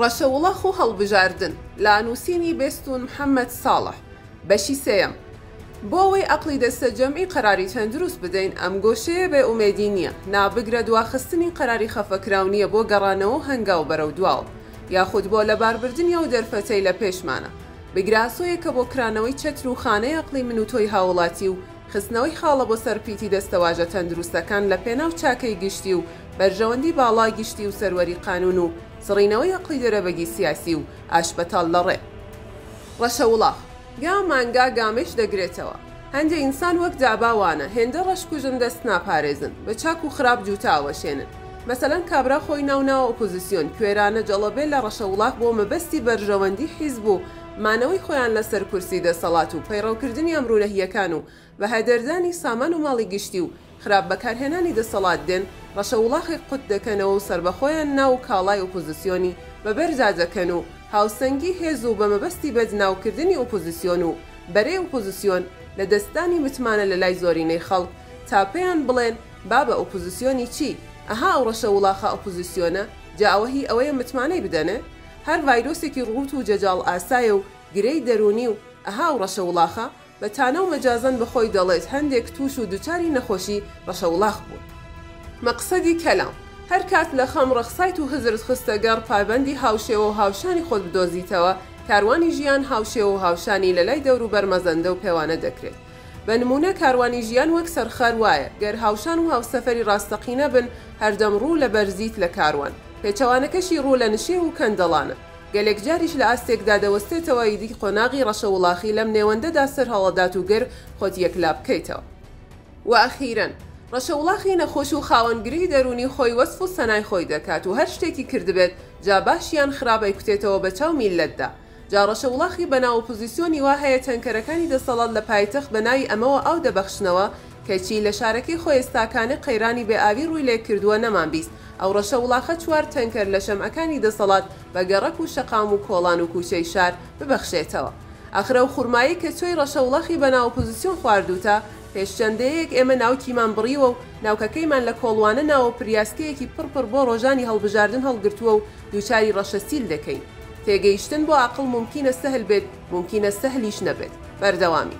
ڕەشەوڵەخ و هەڵبژاردن لە نووسینی بێستوون محەمەد ساڵح بەشی سێیەم بۆ ئەوەی ئەقڵی دەستەجەمعی قەراری چەند دروست بدەین ئەم گۆشەیە بێ ئومێدی نییە نا بگرە دواخستنی قەراری خەفەکراو نییە بۆ گەڕانەوە و هەنگاو بەرەو دواوە یاخود بۆ لەباربردنی ئەو دەرفەتەی لە پێشمانە بگرە ئاسۆیەکە بۆ کرانەوەی چەتر و خانەی ئەقڵی من و تۆی هاووڵاتی و خستنەوەی خاڵە بۆ سەر پیتی دەستەواژە تەندروستەکان لە پێناو چاکەی گشتی و بەرژەوەندی باڵا گشتی و سەروەری قانون و سڕینەوەی ئەقڵی دەرەبەگی سیاسی و ئاشبەتاڵ لە ڕێ ڕەشە وڵاخ گا مانگا گامێش دەگرێتەوە. هەندێ ئینسان وەک دابا وانە، هێندە ڕەش کوژن دەست ناپارێزن، بە چاک و خراپ جووتە ئاوەشێنن. مەسەلەن کابرا خۆی ناو ناوە ئۆپۆزیسیۆن، کوێرانە جەڵەبێ لە ڕەشە وڵاخ بۆ مەبەستی بەرژەوەندی حیزب و مانەوەی خۆیان لەسەر کورسی دەسەڵات و پەیڕەوکردنی ئەمرو نەهیەکان و بەهەدەردانی سامان و ماڵی گشتی و خراپ بەکارهێنانی دەسەڵات دێن ڕەشە وڵاخێک قوت دەکەنەوە و سەربەخۆیان نا و کاڵای ئۆپۆزسیۆنی بەبەردا دەکەن و هاوسەنگی هێز و بەمەبەستی بەدناو کردنی ئۆپۆزسیۆن و بەرەی ئۆپۆزسیۆن لەدەستدانی متمانە لەلای زۆرینەی خەڵک تا پێیان بڵێن بابە ئۆپۆزسیۆنی چی ئەها ئەو ڕەشە وڵاخە ئۆپۆزسیۆنە جا ئەوە هی ئەوەیە متمانەی بدەنێ؟ هەر ڤایرۆسێکی ڕووت و جەجاڵ ئاسایە و گرێی دەروونی و ئەها و ڕەشە وڵاخە، بە تانە و مەجازەن بە خۆی دەڵێت هەندێک تووش و دوچاری نەخۆشی ڕەشە وڵاخ بوون. مەقسەدی کەلام، هەر کات لە خەم ڕەخسایت و هزرت خستە گەڕ، پابەندی هاوشێوە و هاوشانی خۆت بدۆزیتەوە، کاروانی ژیان هاوشێوە و هاوشانی لە لای دەوروبەر مەزەندە و پێوانە دەکرێت. بە نموونە کاروانی ژیان وەک سەرخەر وایە، گەر هاوشان و هاوسەفەری ڕاستەقینە بن، هەردەم ڕوو لە بەرزیت لە کاروان، پێچەوانەکەشی ڕوو لە نشێو و کەندەڵانە. گەلێک جاریش لە ئاستێکدا دەوەستێتەوە، ئیدی قۆناغی ڕەشەوڵاخی لەم نێوەندەدا سەرهەڵەدات و گر خۆت یەکلا بکەیتەوە. و ئەخیرەن، ڕەشەوڵاخی نەخۆش و خاوەن گرێی دەروونی خۆی وەسف و سەنای خۆی دەکات و هەر شتێکی کردبێت، جا باش یان خراپ ئەیکوتێتەوە بە چاو میللەتدا. جا ڕەشەوڵاخی بە ناو ئۆپۆزیسیۆنی وا هەیە تەنکەرەکانی دەسەڵات لە پایتەخت بە ناوی ئەمەوە ئاو دەبەخشنەوە، کەچی لە شارەکەی خۆێستاکانێ قەیرانی بێ ئاوی ڕووی لێ کردووە نەمان بیست ئەو ڕەشەوڵاخە چوار تەنکەر لە شەمعەکانی دەسەڵات بە گەڕەک و شەقام و کۆڵان و کووچەی شار ببەخشێتەوە. ئاخر ئەو خورمایەی کە تۆی ڕەشەوڵاخی بە ناو ئۆپۆزیسیۆن خواردووتە، پێش چەند دەیەیەک ئێمە ناوکیمان بڕیوە و ناوکەکەیمان لە کۆڵوانە ناوە و پریاسکەیەکی پڕ پڕ بۆ ڕۆژانی هەڵبژاردن هەڵگرتووە و دووچاری ڕەشەسیل دەکەین. تێگەیشتن بۆ ئاقڵ مومکینە سەهل بێت، مومکینە سەهلیش نەبێت. بەردەوامی.